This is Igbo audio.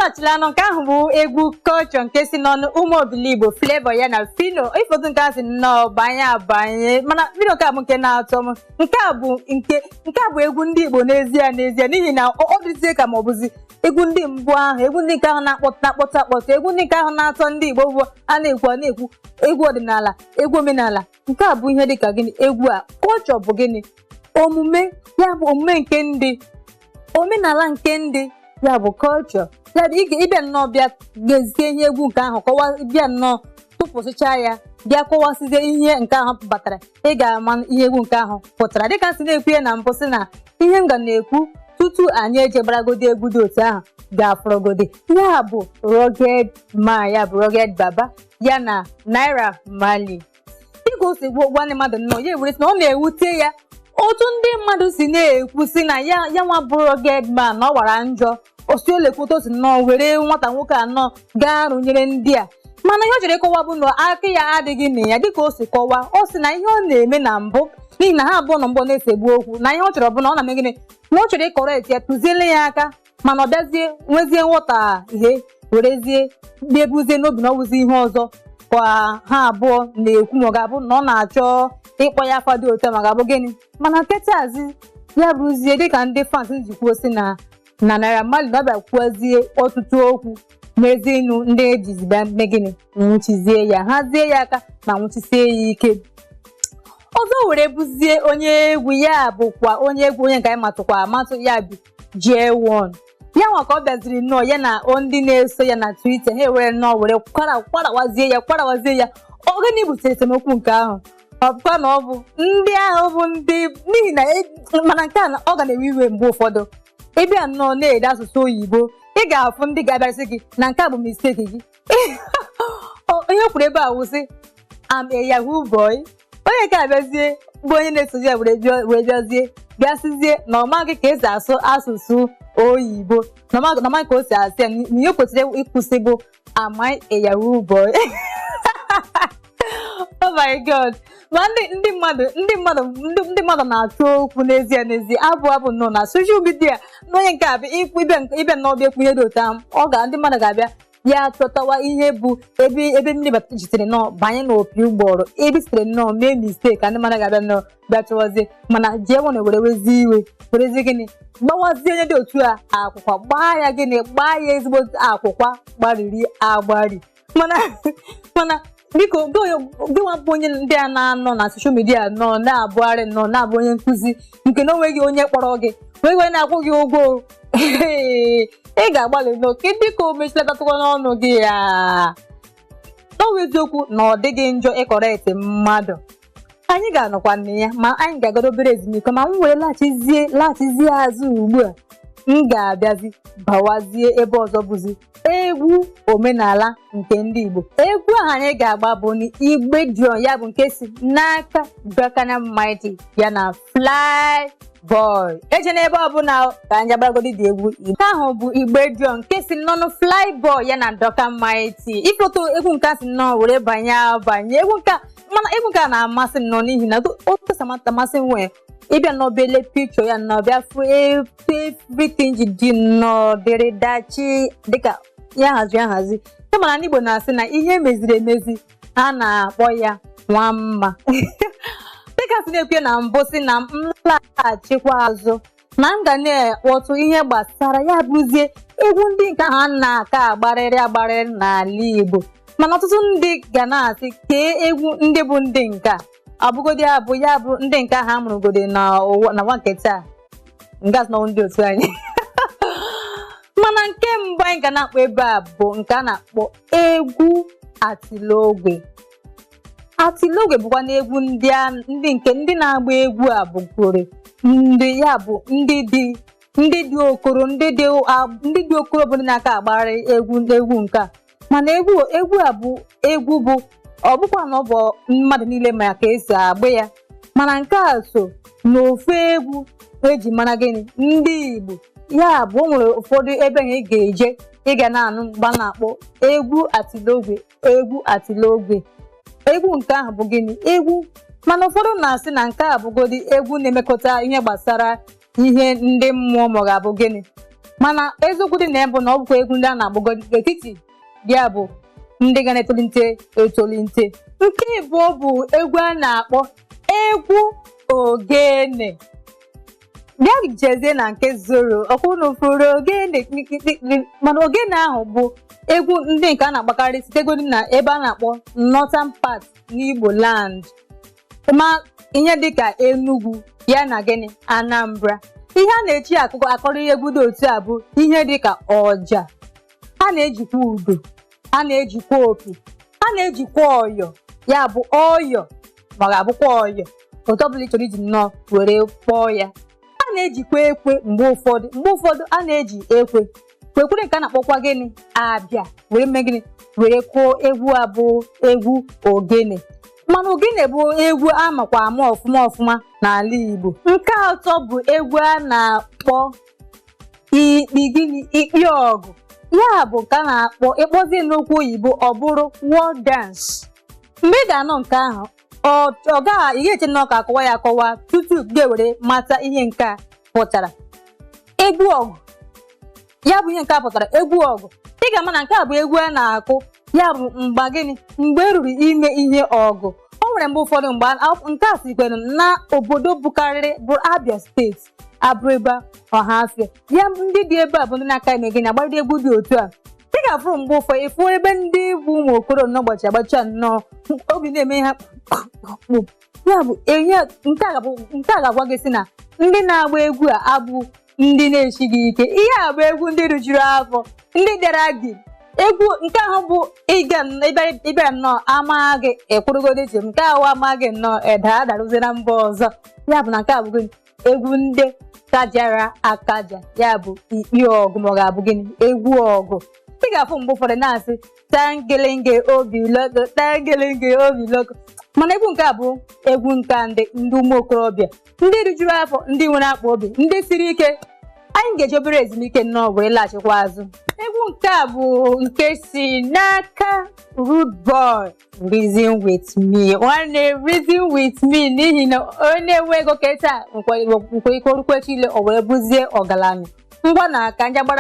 achịla anụ nke ahụ bụ egwu culture nke si n'ọnụ ụmụ Obiligbo Flavour ya na Phyno ị fụ otu nke a si nnọọ banye abanye mana Phyno nke a bụ nke na-atọ m nke a bụ nke nke a bụ egwu ndị igbo n'ezie n'ezie n'ihi na ọ dịzie ka ma ọ bụzi egwu ndị mbụ ahụ egwu ndị nke ahụ na-akpọta akpọta akpọta egwu ndị nke ahụ na-atọ ndị igbo bụ a na-ekwu a na-ekwu egwu ọdịnala egwu omenala nke a bụ ihe dị ka gịnị egwu a culture bụ gịnị omume ya bụ omume nke ndị omenala nke ndị ya bụ culture ya bụ ịga- ị bịa nnọọ bịa gezie ihe egwu nke ahụ kọwa bịa nnọọ tụpụsịcha ya bịa kọwasịzie ihe nke ahụ batara ị ga-ama ihe egwu nke ahụ pụtara dịka m si na-ekwu ya na mbụ sị na ihe m ga na-ekwu tutu anyị ejebaragodi egwu dị otu ahụ ga-afụrọgodi ya bụ Ruggedman ya bụ Rugged Baba ya na Naira Marley dịka o si gwa gwa ndị mmadụ nnọọ ya ewere sị na ọ na-ewute ya otu ndị mmadụ si na-ekwu si na ya ya nwa bụ Ruggedman na ọ wara njọ ọ sị o lekwa otu o si nnọọ were nwata nwoke a nnọọ gaa rụnyere ndị a mana ihe ọ chọrọ ịkọwa bụ na aka ya adịghị na ya dịka o si kọwa ọ sị na ihe ọ na-eme na mbụ n'ihi na ha abụọ na mbụ na-esegbu okwu na ihe ọ chọrọ bụ na ọ na-eme gịnị na ọ chọrọ ị-correct ya tụziele ya aka mana ọ bịazie nwezie nghọta ihe werezie na-ebuzie n'obi na ọ wụzi ihe ọzọ ka ha abụọ na-ekwu ma ọ ga-abụ na ọ na-achọ ịkpọ ya afa dị otu a ma ga-abụ gịnị mana kịtazi ya bụrụzie dịka ndị fans ji kwuo si na na Naira Marley na ọ bịa kwuozie ọtụtụ okwu mezie ịnụ ndị ejizi bịa mee gịnị nwụchizie ya hazie ya aka ma nwụchisie ya ike ọzọ were bụzie onye egwu ya bụkwa onye egwu onye nke anyị matụkwa amatụ ya bụ Jaywon ya nwa ka ọ bịaziri nnọọ ya na o ndị na-eso ya na Twitter ha ewere nnọọ were kwara kwarawazie ya kwarawazie ya ọ gịnị butere esemokwu nke ahụ ọ bụkwa na ọ bụ ndị ahụ bụ ndị n'ihi na e- mana nke a na- ọ ga na-ewe iwe mgbe ụfọdụ ị bịa nnọọ na-ede asụsụ oyibo ị ga-afụ ndị ga-abịarị sị gị na nke a bụ mistake gị Ọ- ihe o kwuru ebe a wụ sị am a yahoo boy onye nke a bịazie bụ onye na-esozi ya were bịa- wee bịazie bịa sizie na ọ maghị ka e si asụ asụsụ oyibo na ọ maghị na ọ maghị ka o si asị ya na ihe o kwesịrị ikwu sị bụ am I a yahoo boy oh my god ma ndị ndị mmadụ ndị mmadụ ndị ndị mmadụ na-achọ okwu n'ezie n'ezie abụ abụ nọ na social media na onye nke a bụ ị bịa ị bịa nnọọ bịa ekwu ihe dị otu ahụ ọ ga ndị mmadụ ga-abịa ya chọtawa ihe bụ ebe ebe mmiri bata sitere nnọọ banye n'opi ụgbọrọ ebe i sitere nnọọ mee mistake ka ndị mmadụ ga-abịa nnọọ bịa chọwazie mana Jaywon were wezi iwe werezi gịnị gbawazie onye dị otu a akwụkwa gbaa ya gịnị gbaa ya ezigbo akwụkwa gbariri agbari mana mana biko gịnwa bụ onye ndị a na-anọ na soshal midia nọ na-abụgharị nọ na-abụ onye nkụzi nke na onweghị onye kpọrọ gị onweghị onye na-akwụ gị ụgwọ ị ga-agbalị nnọọ ka dịka o mechilatatụkwa n'ọnụ gị ya n'ọwa eziokwu na ọ dịghị njọ ịkọrekt mmadụ anyị ga-anọkwa na ya ma anyị ga-agagodi obere ezumike ma m were laghachizie laghachizie azụ ugbu a m ga-abịazi bawazie ebe ọzọ bụzi egwu omenala nke ndị Igbo egwu ahụ anyị ga-agba bụ na igbe dion ya bụ nke si n'aka Duncan Mighty ya na Fly Boy ejena ebe ọbụla ka anyị agbagodi dị egwu Igbo ahụ bụ igbe dion nke si n'ọnụ Fly Boy ya na Duncan Mighty ị fụ otu egwu nke a si nnọọ were banye banye egwu nke a mana egwu nke a na-amasị m nnọọ n'ihi na otu o si amasị m nwee ị bịa nnọọ bịa lee pikchọ ya nnọọ bịa fụ etu everything ji dị nnọọ dịrị dachi dịka ihe a hazi ahazi ị ma na ndị Igbo na-asị na ihe emeziri emezi a na-akpọ ya nwa mma dịka m si na-ekwu na mbụ sị na m laghachikwa azụ na m ga na-ekwutụ ihe gbasara ya bụzie egwu ndị nke ha na-aka agbarịrị agbarịrị n'ala Igbo mana ọtụtụ ndị ga na-asị kee egwu ndị bụ ndị nke a ọ bụgodị abụ ya bụ ndị nke ahụ amụrụgodi na ụwa nke taa m ga-asị na ọ ndị otu anyị mana nke mbụ anyị ga na-akpọ ebe a bụ nke a na-akpọ egwu atilogwe atilogwe bụkwanụ egwu ndị a ndị nke ndị na-agba egwu a bụgoro ndị ya bụ ndị dị ndị dị okoro ndị dị a- ndị dị okoro bụ ndị na-aka agbagharị egwu egwu nke a mana egwu egwu a bụ egwu bụ ọ bụkwa na ọ bụ mmadụ niile ma ka esi agba ya mana nke a so n'ofu egwu eji mara gịnị ndị Igbo ya bụ o nwere ụfọdụ ebe ị ga-eje ị ga na-anụ mgbe a na-akpọ egwu atilogwe egwu atilogwe egwu nke ahụ bụ gịnị egwu mana ụfọdụ na-asị na nke a bụgodi egwu na-emekọta ihe gbasara ihe ndị mmụọ ma ọ ga-abụ gịnị mana eziokwu dị na ya bụ na ọ bụkwa egwu ndị a na-agbagodi n'etiti ya bụ ndị ka na-etolite etolite nke ịbụọ bụ egwu a na-akpọ egwu ogene bịa jezie na nke soro ọkwa unu fụrụ ogene kpikpikpikpi mana ogene ahụ bụ egwu ndị nke a na-agbakarị sitegodi na ebe a na-akpọ northern part n'Igbo land ma ihe dịka Enugu ya na gịnị Anambra ihe a na-eji akụrụ egwu dị otu a bụ ihe dịka ọja a na-ejikwa udo a na-ejikwa opi a na-ejikwa ọyọ ya bụ ọyọ ma ọ ga-abụkwa ọyọ otu ọbụla ị chọrọ iji nnọọ were kpọọ ya a na-ejikwa ekwe mgbe ụfọdụ mgbe ụfọdụ a na-eji ekwe kwekwere nke a na-akpọkwa gịnị a bịa were mee gịnị were kụọ egwu a bụ egwu ogene mana ogene bụ egwu a makwa ama ọfụma ọfụma n'ala Igbo nke atọ bụ egwu a na-akpọ ikpirikpi ọgụ ya bụ nke a na-akpọ ị kpọzie n'okwu oyibo ọ bụrụ war dance mgbe ị ga-anụ nke ahụ ọ ọ gaghị ị ga-eche na ọ ka a kọwa ya akọwa tutu gị were mata ihe nke a pụtara egwu ọgụ ya bụ ihe nke a pụtara egwu ọgụ ị ga-ama na nke a bụ egwu a na-akụ ya bụ mgbe gịnị mgbe e ruru ime ihe ọgụ o nwere mgbe ụfọdụ mgbe a- nke a sikwere na obodo bụkarịrị bụ Abia steeti Abịrịba Ọhafịa ya ndị dị ebe a bụ ndị na-aka eme gịnị agbado egwu dị otu a ị ga-afụrụ mgbe ụfọdụ ị fụ ebe ndị bụ ụmụ okoro nnọọ agbacha nnọọ obi na-eme ha kpụ ya bụ enye nke a ga-abụ- nke a ga-agwa gị sị na ndị na-agba egwu a abụ ndị na-esighị ike ihe a bụ egwu ndị rijuru afọ ndị dara gị egwu nke ahụ bụ ịga nn- ịbịa- ịbịa nnọọ amaghị gị ị kwụrụgodi chịm nke ahụ amaghị gị nnọọ eda adarụzi na mba ọzọ ya bụ na nke a bụ gịnị egwu ndị kajara akaja ya bụ ikpi ọgụ ma ọ ga-abụ gịnị egwu ọgụ ị ga-afụ mgbe ụfọdụ na-asị tangelenge obi loko tangelenge obi loko mana egwu nke a bụ egwu nke a ndị ndị ụmụ okorobịa ndị rijuru afọ ndị nwere akpa obi ndị siri ike anyị ga-eji obere ezumike nnọọ wee laghachikwa azụ egwu nke a bụ nke si n'aka Rude Boy reason with me nwanne reason with me n'ihi na onye enwe ego kịta nwere ike o rukwe echile o wee bụzie ọgaranya ngwanụ ka anyị gbara